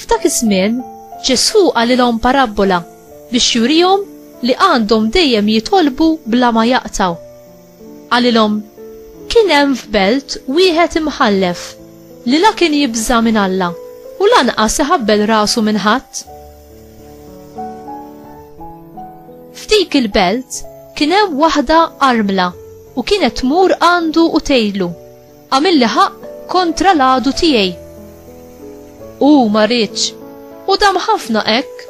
F'dak iż-żmien, Ġesù qalilhom parabbola biex jurihom li għandhom dejjem jitolbu bla ma jaqtaw. Qalilhom, Kien hemm f'belt wieħed imħallef li la kien jibża' minn Alla u lanqas iħabbel rasu minn ħadd. F'dik il-belt kien hemm waħda armla u kienet tmur għandu u tgħidlu, Għamilli ħaqq kontra l-għadu tiegħi. Hu ma riedx, u dam ħafna hekk.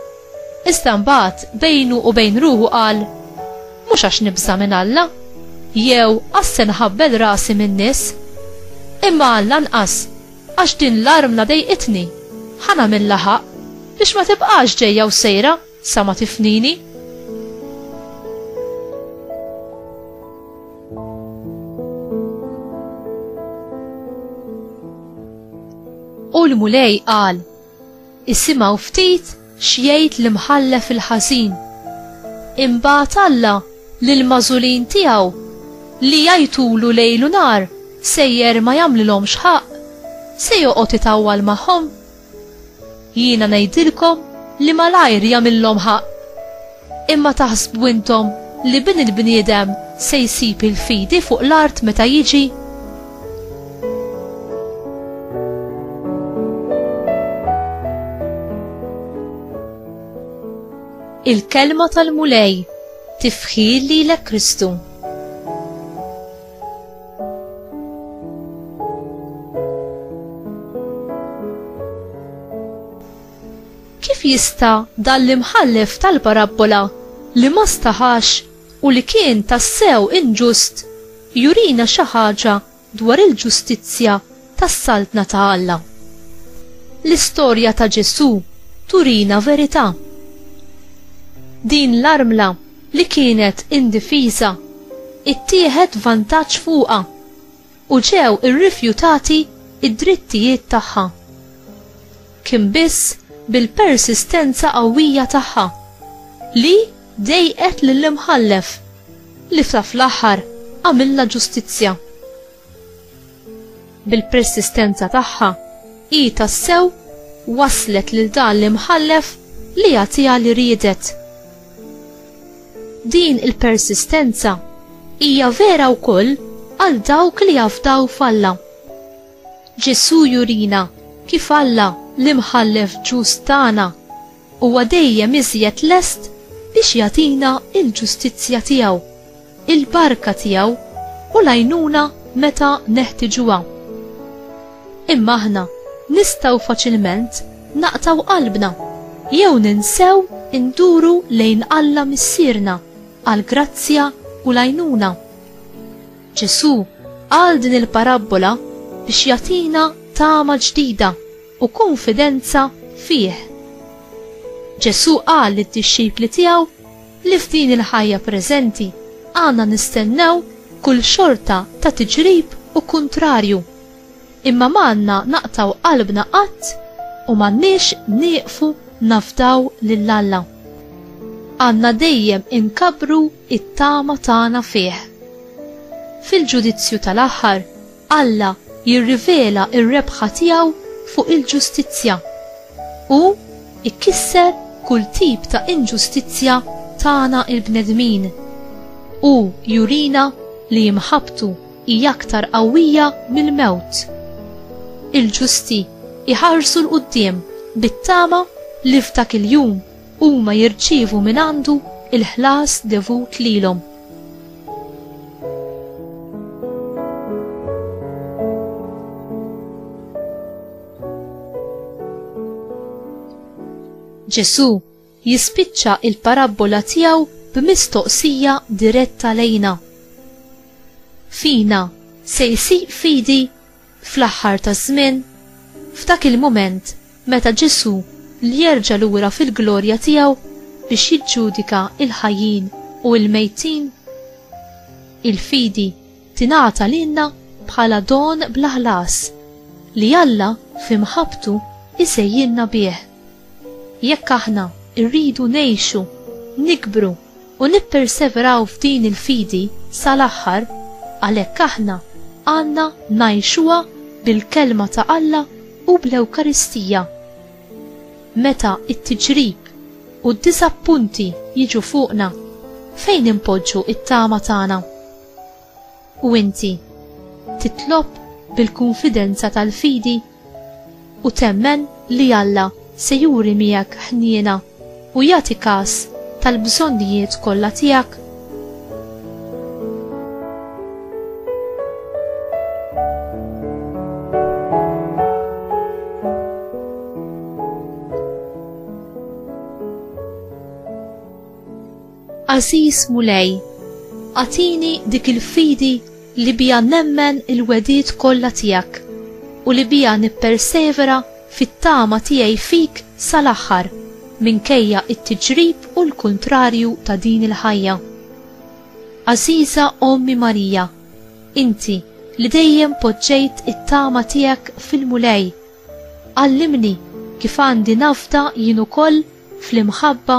Iżda mbagħad bejnu u bejn ruħu qal, Mhux għax nibża' minn Alla, jew għax se nħabbel rasi min-nies, imma għall-anqas għax din l-armla dejqitni, ħa nagħmilha ħaqq biex ma tibqax ġejja u sejra. Sa ma tifnini? U l-Mulej qal, Isimgħu ftit x'jgħid l-imħallef il-ħażin. Imbagħad Alla lil mażulin tiegħu li jajtulu lejl u nar sejjer ma jagħmlilhomx ħaqq, se joqgħod itawwal magħhom? Jiena ngħidilkom li malajr jagħmillhom ħaqq. Imma taħsbu intom li Bin il-bniedem se jsib il-fidi fuq l-art meta jiġi? Il-kelma tal-Mulej tifħir lilek Kristu. Kif jista' dan l-imħallef tal-parabbola li ma staħax u li kien tassew inġust jurina xi ħaġa dwar il-ġustizzja tas-Saltna ta' Alla. L-istorja ta' Ġesù turina verità. Din l-armla li kienet indifiża ittieħed vantaġġ fuqha u ġew irrifjutati d-drittijiet tagħha. Kien biss bil-persistenza qawwija tagħha li dejqet lill-Imħallef li fl-aħħar għamilha ġustizzja. Bil-persistenza tagħha, hi tassew waslet lil dan l-imħallef li jagħtiha li riedet. Din il-persistenza hija vera wkoll għal dawk li jafdaw f'Alla. Ġesù jurina kif Alla l-imħallef ġust tagħna huwa dejjem iżjed lest biex jagħtina l-ġustizzja tiegħu. il-barka tiegħu u l-għajnuna meta neħtiġuha. Imma aħna nistgħu faċilment naqtgħu qalbna jew ninsew induru lejn Alla Missierna għall-grazzja u l-għajnuna. Ġesù qal din il-parabbola biex jagħtina tama ġdida u kunfidenza fih. Ġesù qal lid-dixxipli tiegħu li f'din il-ħajja preżenti għandna nistennew kull xorta ta' tiġrib u kuntrarju, imma m'għandna naqtgħu qalbna qatt u m'għandniex nieqfu nafdaw lil Alla. Għandna dejjem inkabbru t-tama tagħna fih. Fil-ġudizzju tal-aħħar, Alla jirrivela r-rebħa tiegħu fuq il-ġustizzja. Hu jkisser kull tip ta' inġustizzja tagħna l-bnedmin. Hu jurina li imħabbtu hi aktar qawwija mill-mewt. Il-ġusti jħarsu 'l quddiem bit-tama li f'dak il-jum huma jirċievu mingħandu l-ħlas devut lilhom. Ġesù jispiċċa il-parabbola tiegħu b'mistoqsija diretta lejna. Fina se jsir fidi Fl-aħħar taż-żmien, f'dak il-mument meta Ġesù l jerġa' lura fil-glorja tiegħu biex jiġġudika l-ħajjin u l-mejtin, il-fidi tingħata lilna bħala don bla ħlas li Alla fi mħabbtu jsejjilna bih. Jekk aħna rridu ngħixu, nikbru u nipperseveraw f'din il-fidi sal-aħħar, għalhekk aħna għandna ngħixuha bil-Kelma ta' Alla u bl-Ewkaristija. Meta t-tiġrib u d-diżappunti jiġu fuqna, fejn inpoġġu t-tama tagħna? U inti titlob bil-kunfidenza tal-fidi u temmen li Alla se juri miegħek ħniena u jagħti kas tal-bżonnijiet kollha tiegħek? Għażiż Mulej, agħtini dik il-fidi li biha nemmen il-wegħdiet kollha tiegħek u li biha nippersevera fit-tama tiegħi fik sal-aħħar minkejja t-tiġrib u l-kuntrarju ta' din il-ħajja. Għażiża Ommi Marija, inti li dejjem poġġejt it-tama tiegħek fil-Mulej, għallimni kif għandi nafda jien ukoll fl-imħabba